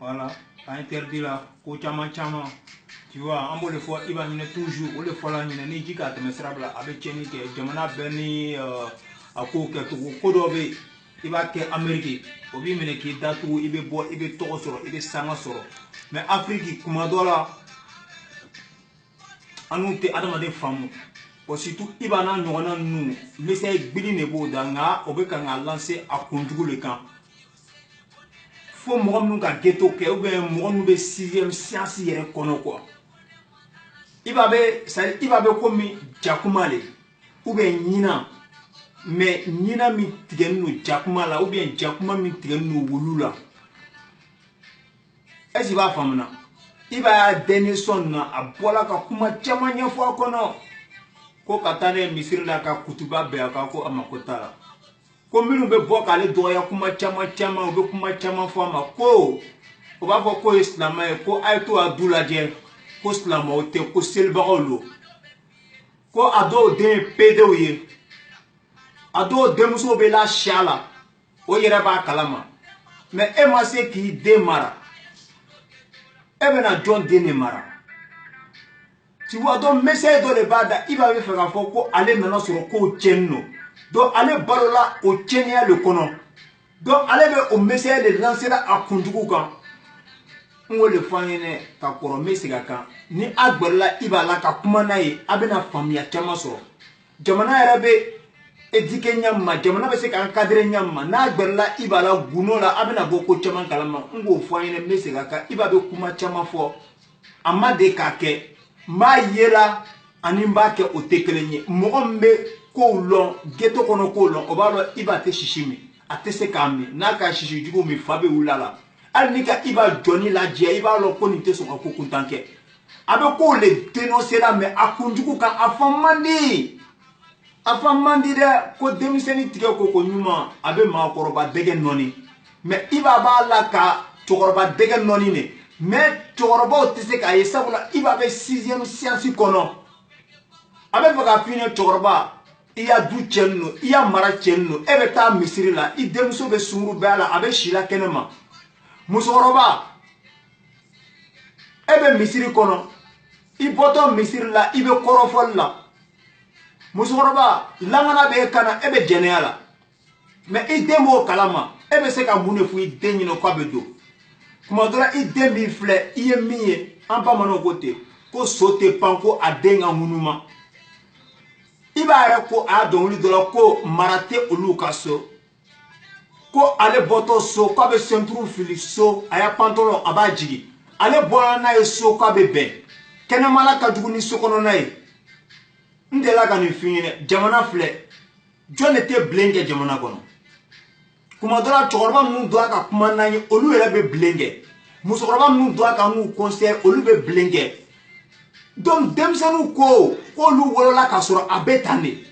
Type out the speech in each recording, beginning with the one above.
Voilà, a interdit la ko caman caman tu vois an b'o de fɔ i b'a ɲinɛ toujours o de fɔla ɲinɛ ni ji k'a tɛmɛ sira bila a bɛ tiɲɛni kɛ jamana bɛɛ ni euh, a kow kɛcogo ko dɔ bɛ yen i b'a kɛ ameriki o b'i minɛ k'i datugu i bɛ bɔ i bɛ tɔgɔ sɔrɔ i bɛ sanga sɔrɔ mɛ afiriki kuma dɔ la an n'u tɛ adamaden faamu surtout Iba n'a ɲɔgɔnna ninnu message gbili de b'o da nka o bɛ ka k'a lanse a kunjugu de kan fo mɔgɔ minnu ka geto kɛ ubiyɛn mɔgɔ minnu bɛ sixième siyansi yɛrɛ kɔnɔ kuwa Iba bɛ sari Iba bɛ komi jakuma le ubiyɛn ɲinan mɛ ɲinan min tigɛlen don jakuma la ubiyɛn jakuma min tigɛlen don wulu la ɛsi b'a faamuna Iba ya dernier son na a bɔla ka kuma caman ɲɛfɔ a kɔnɔ ko ka taa ne misiri la ka kutuba bɛn a kan ko a mako t'a la ko minnu bɛ bɔ k'ale dɔgɔya kuma caman caman u bɛ kuma caman fɔ a ma ko o b'a fɔ k'o ye silamɛ ye ko a ye t'o ya du lajɛ ko silamɛw tɛ ko selibagaw don ko a dɔw den ye pedew ye a dɔw denmuso bɛ la siya la o yɛrɛ b'a kalama mɛ e ma se k'i den mara e bɛna jɔn den de mara tu vois donc message dɔ de b'a da Iba bɛ fɛ k'a fɔ ko ale nana sɔrɔ kow tiɲɛnin don donc ale balola o tiɲɛniya de kɔnɔ donc ale bɛ o message de lancer la a kunjugu kan n k'o de fɔ an ye dɛ ka kɔrɔ n bɛ segin a kan ni a gɛrɛla Iba la ka kuma n'a ye a bɛna faamuya caman sɔrɔ jamana yɛrɛ bɛ éduquer ɲɛ min ma jamana bɛ se ka encadrer ɲɛ min ma n'a gɛrɛla Iba la gundo la a bɛna bɔ ko caman kalama n k'o fɔ an ye dɛ n bɛ segin a kan Iba bɛ kuma caman fɔ. a ma de k'a kɛ n b'a yela ani n b'a kɛ o tɛ kelen ye mɔgɔ min bɛ kow lɔn geto kɔnɔ kow lɔn o b'a lɔn Iba tɛ sisi min a tɛ se k'a min n'a ka sisi jugu min fa bɛ wuli a la hali n'i ka Iba jɔnin lajɛ i b'a lɔn ko nin tɛ sɔn ka ko kuntan kɛ a bɛ kow le dénoncer la mɛ a kunjugu kan a faamu man di a faamu man di dɛ ko denmisɛnnin tigɛ ko koɲuman a bɛ maakɔrɔba dɛgɛ nɔni mɛ Iba b'a la ka cɛkɔrɔba dɛgɛ nɔni de mɛ cɛkɔrɔbaw tɛ se k'a ye sabula Iba bɛ sixième siyansi kɔnɔ a bɛ fɛ k'a f'i ɲɛ cɛkɔrɔba i ya du cɛnin don i ya mara cɛnin don e bɛ taa misiri la i denmuso bɛ sungurubaya la a bɛ si la kɛnɛ ma musokɔrɔba e bɛ misiri kɔnɔ i bɔtɔ misiri la i bɛ kɔrɔfɔli la musokɔrɔba langana bɛ e kan na e bɛ jɛnɛya la mɛ i den b'o kalama e bɛ se ka mun de fɔ i den ɲinɛ k'a bɛ donc tuma dɔ la i den b'i filɛ i ye min ye an bamananw ko ten ko so tɛ pan ko a den ka ŋunuma Iba yɛrɛ ko a ya dɔnkili dɔ la ko mara tɛ olu ka so ko ale bɔtɔ so k'a bɛ ceinture fili so a y'a pantalon a b'a jigin ale bɔra n'a ye so k'a bɛ bɛn kɛnɛmala ka jugu ni so kɔnɔna ye n delila ka nin f'i ɲɛna jamana filɛ jɔn de tɛ bilen kɛ jamana kɔnɔ kuma dɔ la cɛkɔrɔba minnu donna ka kuma n'an ye olu yɛrɛ bɛ bilen kɛ musokɔrɔba minnu donna ka ninnu conseiller olu bɛ bilen kɛ donc denmisɛnninw ko k'olu wolola k'a sɔrɔ a bɛ tan de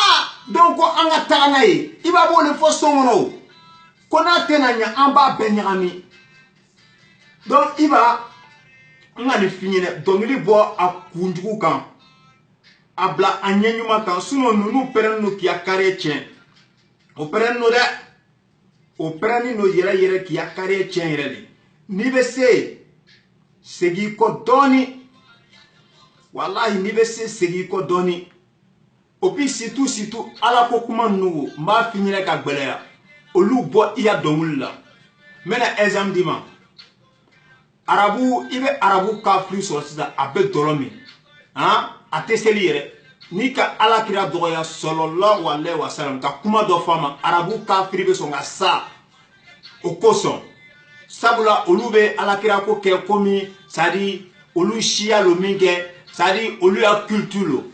aa dɔw ko an ka taga n'a ye i b'a b'o de fɔ so kɔnɔ o ko n'a tɛna ɲɛ an b'a bɛɛ ɲagami donc i b'a n ka nin f'i ɲɛna dɔnkili bɔ a kunjugu kan a bila a ɲɛ ɲuman kan sinɔn ninnu pɛrɛnnen don k'i ya carrière tiɲɛ o pɛrɛnnen don dɛ o pɛrɛnnen don yɛrɛ yɛrɛ k'i ya carrière tiɲɛ yɛrɛ de n'i bɛ se segin i kɔ dɔɔni walahi n'i bɛ se segin i kɔ dɔɔni o bi situ situ ala ko kuma ninnu wo n b'a f'i ɲɛna ka gbɛlɛya olu bɔ i ya dɔnkili la n bɛna exemple d'i ma arabu i bɛ arabu kafiri sɔrɔ sisan a bɛ dɔlɔ min han a tɛ seli yɛrɛ n'i ka ala kira dɔgɔya salalahu alayihi wasalam ka kuma dɔ fɔ a ma arabu kafiri bɛ sɔn ka sa o kosɔn sabula olu bɛ ala kira ko kɛ komi sadi olu siya lo min kɛ sadi olu ya culture lo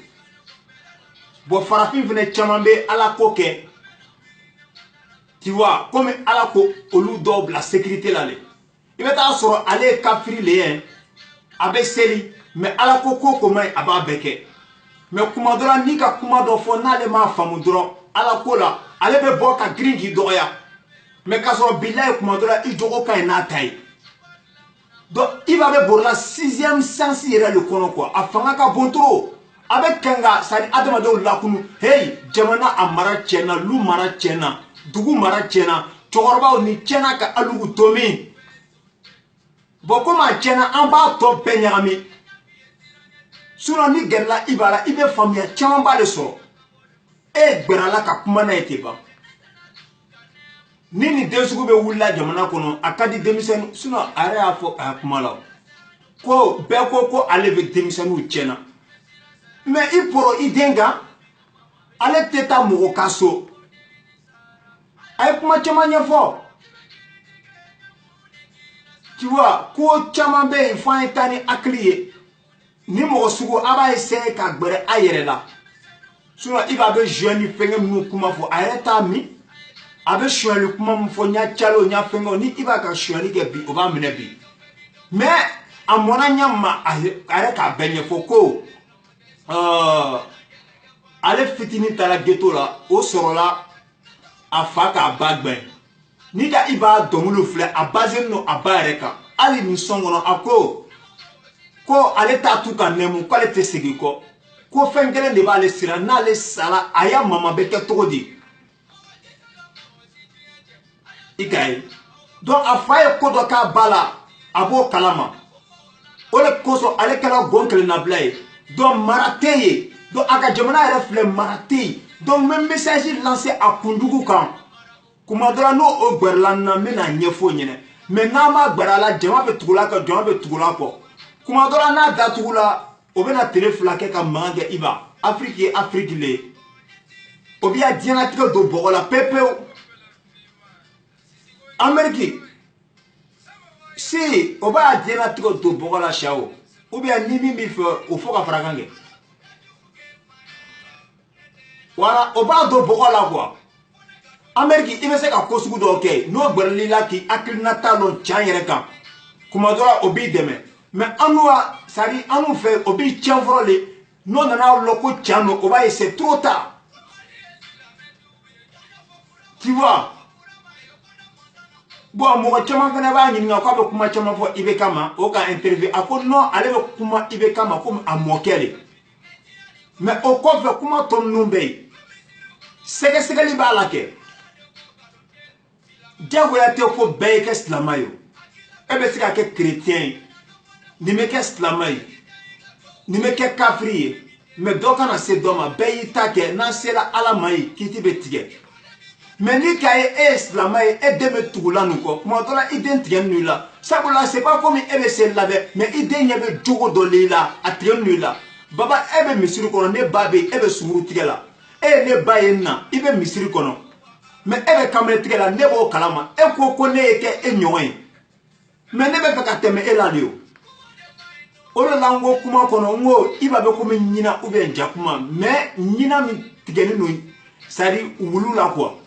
bɔn farafin fɛnɛ caman bɛ ala ko kɛ tu vois komi ala ko olu dɔw bila sécurité la le i bɛ taa sɔrɔ ale ye kafiri le ye a bɛ seli mɛ ala ko ko ko man ɲi a b'a bɛɛ kɛ mɛ kuma dɔ la n'i ka kuma dɔ fɔ n'ale m'a faamu dɔrɔn ala ko la ale bɛ bɔ ka girin k'i dɔgɔya mɛ k'a sɔrɔ bilayi kuma dɔ la i jogo ka ɲi n'a ta ye donc i b'a bɛ borola sixième sens yɛrɛ de kɔnɔ quoi a fanga ka bon trop a bɛ kan ka sadi adamadenw lakunu heyi jamana a mara tiɲɛna lu mara tiɲɛna dugu mara tiɲɛna cɛkɔrɔbaw ni tiɲɛna ka alugu to min bɔn komi a tiɲɛna an b'a tɔ bɛɛ ɲagami sinɔn n'i gɛrɛla i ba la i bɛ faamuya camanba de sɔrɔ e gbɛrɛla ka kuma n'a ye ten ban ni nin den sugu bɛ wulila jamana kɔnɔ a ka di denmisɛnninw sinɔn a yɛrɛ y'a fɔ a ya kuma la ko bɛɛ ko ko ale bɛ denmisɛnninw tiɲɛna mɛ i poro i den kan ale tɛ taa mɔgɔ ka so a ye kuma caman ɲɛfɔ tu vois ko caman bɛ yen f'an ye taa ni hakili ye ni mɔgɔ sugu a b'a essayer ka gbɛrɛ a yɛrɛ la sinon iba bɛ joint ni fɛngɛ minnu kuma fɔ a yɛrɛ t'a min a bɛ sonyali kuma min fɔ n y'a calo n y'a fɛngɛ ni iba ka sonyali kɛ bi o b'a minɛ bi mais a mɔna ɲa ma a yɛrɛ k'a bɛɛ ɲɛfɔ ko euh, ale fitinin taara geto la o sɔrɔla a fa k'a ba gbɛn n'i ka iba dɔnkiliw filɛ a bazenin don a ba yɛrɛ kan hali nin sɔn kɔnɔ a ko ko ale t'a t'u ka nɛmu k'ale tɛ segin kɔ ko fɛn kelen de b'ale siran n'ale sara a ya mama bɛ kɛ cogo di i k'a ye donc a fa ye ko dɔ k'a ba la a b'o kalama o de kosɔn ale kɛra gɔn kelennabila ye donc mara tɛ yen donc a ka jamana yɛrɛ filɛ mara tɛ yen donc n bɛ message lancer a kunjugu kan kuma dɔ la n'o o gbɛrɛla n na n bɛna ɲɛfɔ ɲɛnɛ mais n'an ma gbɛrɛ a la jama bɛ tugula kɔ jama bɛ tugula kɔ kuma dɔ la n'a datugula o bɛna tele fila kɛ ka mankan kɛ iba afiriki ye afiriki le ye o bɛ ya diɲɛnatigɛ don bɔgɔ la pepewu ameriki si o b'a diɲɛnatigɛ don bɔgɔ la sa o ou bien ni min b'i fɛ o fo ka farakan kɛ wala o b'a don bɔgɔ la quoi ameriki i bɛ se ka ko sugu dɔw kɛ yen n'o gbɛrɛl'i la k'i hakilinata dɔn can yɛrɛ kan kuma dɔ la o b'i dɛmɛ mais annu ka sari annu fɛ o b'i tiɲɛ fɔlɔ de n'o nana lɔn ko tiɲɛ don o b'a ye c'est trop tard tu vois bon mɔgɔ caman fana b'a ɲininka k'a bɛ kuma caman fɔ IBK ma o ka interview a ko non ale bɛ kuma IBK ma komi a mɔkɛ de mais o kɔfɛ kuma tɔ ninnu bɛ yen sɛgɛsɛgɛli b'a la kɛ diyagoya tɛ ko bɛɛ ye kɛ silama ye e bɛ se ka kɛ kerecɛn ye nin bɛ kɛ silama ye nin bɛ kɛ kafiri ye mais dɔ kana se dɔ ma bɛɛ y'i ta kɛ n'an sera ala ma yen kiti bɛ tigɛ mais n'i k'a ye e ye silama ye e den bɛ tugula nin kɔ tuma dɔ la i den tigɛnin don i la sabula c'est pas comme e bɛ se labɛn mais i den ɲɛ bɛ jogo dɔ l'i la a tigɛnin don i la baba e bɛ misiri kɔnɔ ne ba bɛ yen e bɛ sunguru tigɛ la e ye ne ba ye n na i bɛ misiri kɔnɔ mais e bɛ kamalen tigɛ la ne b'o kalama e ko ko ne ye kɛ e ɲɔgɔn ye mais ne bɛ fɛ ka tɛmɛ e la de o o de la n ko kuma kɔnɔ n ko iba bɛ komi ɲina ou bien jakuma mais ɲina min tigɛlen don sari wulu la quoi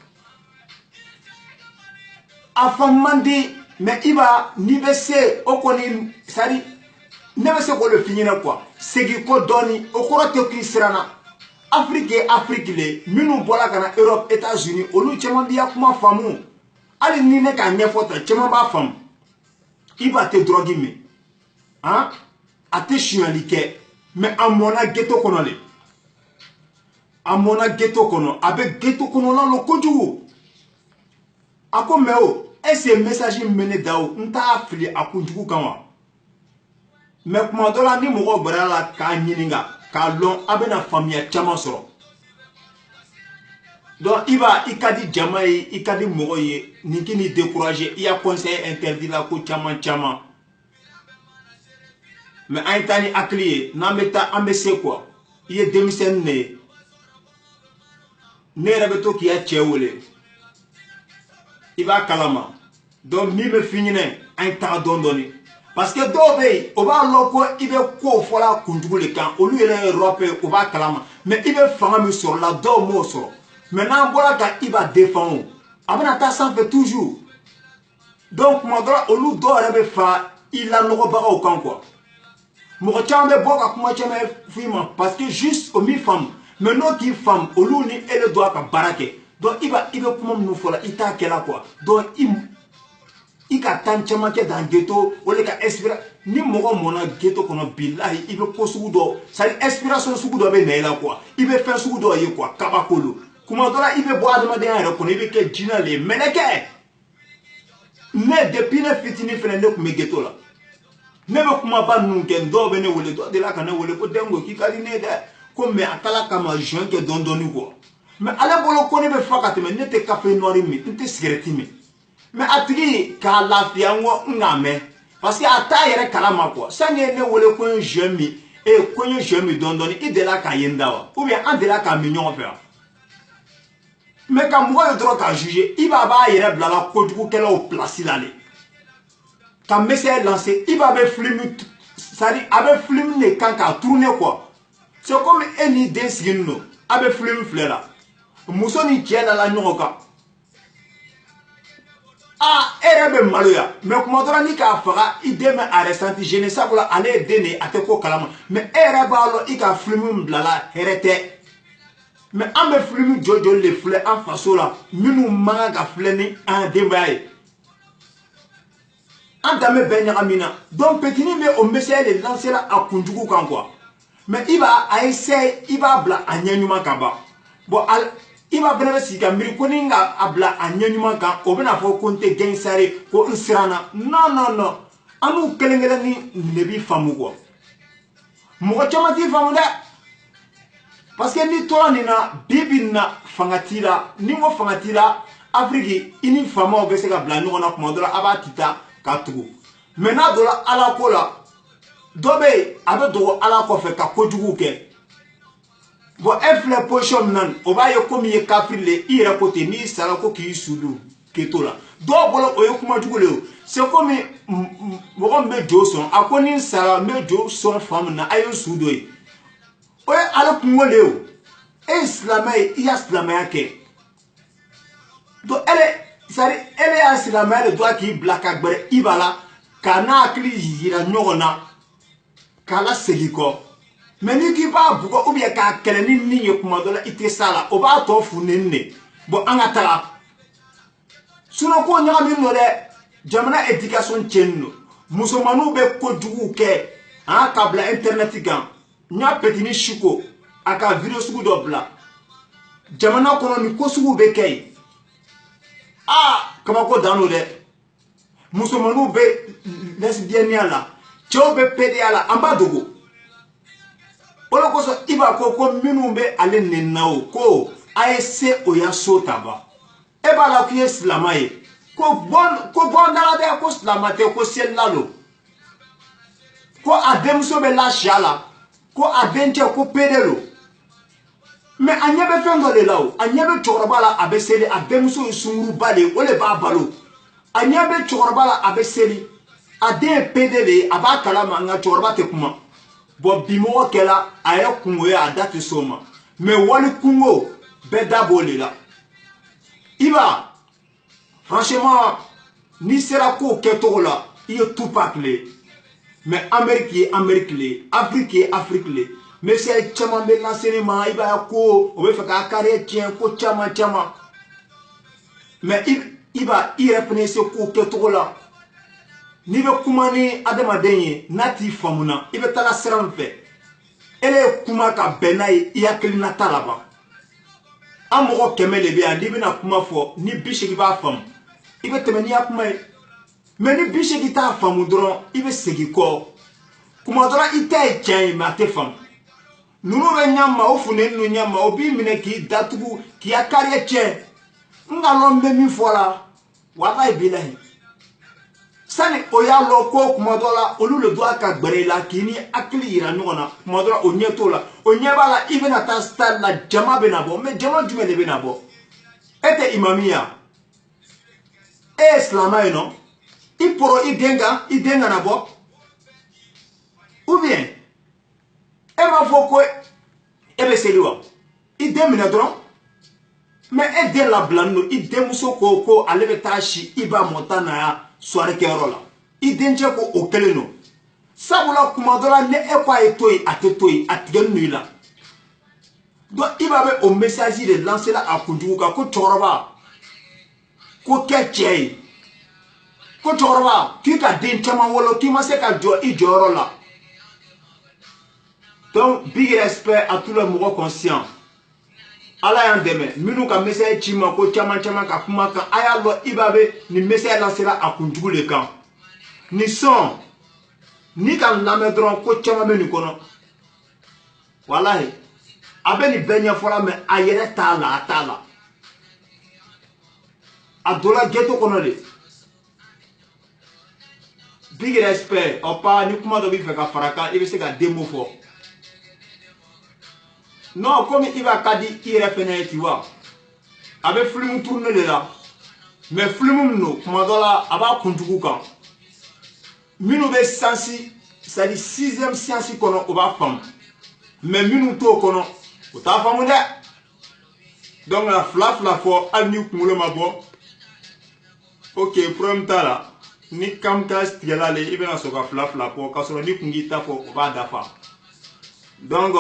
a fa man di mais iba n'i bɛ se o kɔni sari ne bɛ se k'o de f'i ɲɛna quoi segin kɔ dɔɔni o kɔrɔ tɛ k'i siranna afiriki ye afiriki le ye minnu bɔra ka na europe etats unis olu caman b'i ya kuma faamu hali ni ne k'a ɲɛfɔ tan caman b'a faamu iba tɛ dɔrɔgi min han a tɛ sonyali kɛ mɛ a mɔna geto kɔnɔ le a mɔna geto kɔnɔ a bɛ geto kɔnɔna lɔn kojugu a ko mɛ o ɛseke mesaji min bɛ ne da o n t'a fili a kunjugu kan wa mɛ kuma dɔ la ni mɔgɔw gbara la k'a ɲininka k'a lɔn a bɛna faamuya caman sɔrɔ donc iba i ka di jama ye i ka di mɔgɔ ye nin k'i ni découragé i ya concert interdit la ko caman caman mɛ an ye taa ni hakili ye n'an bɛ taa an bɛ se quoi i ye denmisɛnnin de ye ne yɛrɛ bɛ to k'i ya cɛ wele i b'a kalama donc min bɛ fi ɲinɛ an ye taga dɔɔni dɔɔni parce que dɔw bɛ yen o b'a lɔn ko i bɛ kow fɔla kunjugu de kan olu yɛrɛ ye rappeur ye o b'a kalama mais i bɛ fanga min sɔrɔla dɔw m'o sɔrɔ mais n'an bɔra ka iba defan o a bɛna taa sanfɛ toujours donc tuma dɔ la olu dɔw yɛrɛ bɛ fara i lanɔgɔbagaw kan quoi mɔgɔ caman bɛ bɔ ka kuma caman f'i ma parce que juste o m'i faamu mais n'o k'i faamu olu ni e bɛ don a ka baara kɛ donc iba i bɛ kuma minnu fɔ la i t'a kɛla quoi donc i i ka tan caman kɛ dan geto o de ka espira ni mɔgɔ mɔna geto kɔnɔ bilahi i bɛ ko sugu dɔ c'est à dire inspiration sugu dɔ bɛ na i la quoi i bɛ fɛn sugu dɔ ye quoi kabako don kuma dɔ la i bɛ bɔ adamadenya yɛrɛ kɔnɔ i bɛ kɛ jinɛ de ye mɛlɛkɛ ne depuis ne fitinin fɛnɛ ne tun bɛ geto la ne bɛ kumaba ninnu kɛ dɔw bɛ ne wele dɔ delila ka ne wele ko denko k'i ka di ne ye dɛ ko mɛ a taara ka ma zuwɛn kɛ dɔɔni dɔɔni quoi mɛ ale bolo ko ne bɛ fa ka tɛmɛ ne tɛ kafe nɔri min n tɛ sigɛrɛti min mɛ a tigi k'a lafiya n ko n k'a mɛn parce que a t'a yɛrɛ kalama quoi sanni i ye ne wele ko n ye zuwɛn min ee ko n ye zuwɛn min dɔɔni dɔɔni i delila k'a ye n da wa ou bien an delila k'a min ɲɔgɔn fɛ wa mɛ ka mɔgɔ ye dɔrɔn k'a juge iba b'a yɛrɛ bilala kojugukɛlaw pilasi la de ka mesaji lanse iba bɛ filimu c'est à dire a bɛ filimu de kan k'a turune quoi c'est comme e n'i den sigini don a bɛ filimu filɛ la muso ni cɛ dala ɲɔgɔn kan aa e yɛrɛ bɛ maloya mɛ kuma dɔrɔn n'i k'a faga i den bɛ a resanti gêné sabula ale ye den de ye a tɛ ko kalama mɛ e yɛrɛ b'a lɔn i ka filimu bilala hɛrɛ tɛ mɛ an bɛ filimu joli joli de filɛ an faso la minnu man kan ka filɛ ni an denbaya ye an danbe bɛɛ ɲagamina donc petini bɛ o mesaji de lansela a kunjugu kan quoi mɛ iba a essaye i b'a bila a ɲɛ ɲuman kan ban bon iba fana bɛ sigi ka miiri ko ni n ka a bila a ɲɛ ɲuman kan o bɛna fɔ ko n tɛ gangster ko n siranna non non non an n'u kelen kelen ni ne b'i faamu quoi mɔgɔ caman t'i faamu dɛ parce que n'i tora nin na bi bi nin na fanga t'i la ni ko fanga t'i la afiriki i ni faamaw bɛ se ka bila ɲɔgɔn na kuma dɔ la a b'a ti ta k'a tugu mɛ n'a donna ala ko la dɔ bɛ yen a bɛ dogo ala kɔfɛ ka kojuguw kɛ bɔn e filɛ pozisiyɔn min na nin o b'a ye komi i ye kafiri le i yɛrɛ ko ten n'i sara ko k'i su don k'i to la dɔw bolo o ye kuma jugu le ye se komi mɔgɔ min bɛ jo sɔn a ko ni n sara n bɛ jo sɔn fan min na a ye n su don yen o ye ala kunko le ye o e ye silamɛ ye i ka silamɛya kɛ donc ele sari ele y'a silamɛya de dɔn k'i bila ka gbɛrɛ i b'a la k'an hakili yira ɲɔgɔn na k'a lasegin kɔ mɛ n'i k'i b'a bugɔ ou bien k'a kɛlɛ ni min ye kuma dɔ la i tɛ s'a la o b'a tɔ funteni de bɔ an ka taga sinɔn ko ɲagaminen don dɛ jamana edikasiyɔn tiɲɛnen don musomanninw bɛ kojuguw kɛ an ka bila intɛrɛnɛti kan n y'a petini siko a ka video sugu dɔ bila jamana kɔnɔ nin ko suguw bɛ kɛ yen aa kabako dan don dɛ musomaninw bɛ lɛsibiyɛniya la cɛw bɛ pedeya la an b'a dogo o de kosɔn i b'a ko ko minnu bɛ ale nenina o ko a ye se o ya so ta ban e b'a la k'i ye silama ye ko bɔn ko bɔn dala dɛ ko silama tɛ ko selila don ko a denmuso bɛ lasiya la ko a denkɛ ko pede don mɛ a ɲɛ bɛ fɛn dɔ de la o a ɲɛ bɛ cɛkɔrɔba la a bɛ seli a denmuso ye sunguruba de ye o de b'a balo a ɲɛ bɛ cɛkɔrɔba la a bɛ seli a den ye pede de ye a b'a kala ma nka cɛkɔrɔba tɛ kuma bɔn bimɔgɔ kɛla a yɛrɛ kunko ye a da tɛ s'o ma mɛ wali kunko bɛɛ da b'o de la i b'a franchement n'i sera kow kɛcogo la i ye tupac le ye mais amérique ye amérique le ye afrique ye afrique le ye message caman bɛ lase ne ma i b'a ye ko o bɛ fɛ k'a carrière tiɲɛ ko caman caman mais i b'a i yɛrɛ fana se kow kɛcogo la n'i bɛ kuma ni adamaden ye n'a t'i faamuna i bɛ taga sira min fɛ ele ye kuma ka bɛn n'a ye i hakilinata la ban an mɔgɔ kɛmɛ de bɛ yan n'i bɛna kuma fɔ ni bi seegin b'a faamu i bɛ tɛmɛ n'i ya kuma ye mɛ ni bi seegin t'a faamu dɔrɔn i bɛ segin kɔ kuma dɔrɔn i ta ye tiɲɛ ye mɛ a tɛ faamu ninnu bɛ ɲɛma o funteni ninnu ɲɛma o b'i minɛ k'i datugu k'i ka carrière tiɲɛ n k'a lɔn n bɛ min fɔ la walayi bilayi sani o y'a lɔ ko kuma dɔ la olu le doit ka gbɛrɛ i la k'i ni hakili yira ɲɔgɔn na kuma dɔ la o ɲɛ t'o la o ɲɛ b'a la i bɛna taa stade la jama bɛna bɔ mais jama jumɛn le bɛna bɔ e tɛ imami ya e ye silamɛ ye non i poro i den kan i den kana bɔ ou bien e b'a fɔ ko e bɛ seli wa i den minɛ dɔrɔn mais e den labilani don i denmuso ko ko ale bɛ taa si iba montana ya soirée kɛyɔrɔ la i dencɛ ko o kelen don sabula kuma dɔ la ni e ko a ye to yen a tɛ to yen a tigɛnin don i la donc iba bɛ o message de lancer la a kunjugu kan ko cɛkɔrɔba ko kɛ cɛ ye ko cɛkɔrɔba k'i ka den caman wolo k'i ma se ka jɔ i jɔyɔrɔ la donc big respect à tous les mɔgɔ conscient ala y'an dɛmɛ minnu ka message ci ma ko caman caman ka kuma kan a y'a lɔ iba be nin message lasera a kunjugu le kan nin son n'i k'a lamɛn dɔrɔn ko caman bɛ nin kɔnɔ walahi a bɛ nin bɛɛ ɲɛfɔla mais a yɛrɛ t'a la a t'a la a donna ghetto kɔnɔ le big respect ɔpa ni kuma dɔ b'i fɛ ka fara kan i bɛ se ka deux mots fɔ non komi iba ka di i yɛrɛ fɛnɛ ye ti wa a bɛ filimu tourner le la mais filimu min don kuma dɔ la a b'a kunjugu kan minnu bɛ sens c'est-à-dire sixième science kɔnɔ o b'a faamu mais minnu t'o kɔnɔ o t'a faamu dɛ donc a fila fila fɔ hali ni kunkolo ma bɔ ok problème t'a la ni kamikaze tigɛla ale i bɛna sɔrɔ ka fila fila fɔ k'a sɔrɔ ni kun k'i ta fɔ o b'a dafa donc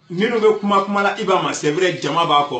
minnu bɛ kuma kuma la iba ma c'est vrai jama b'a kɔ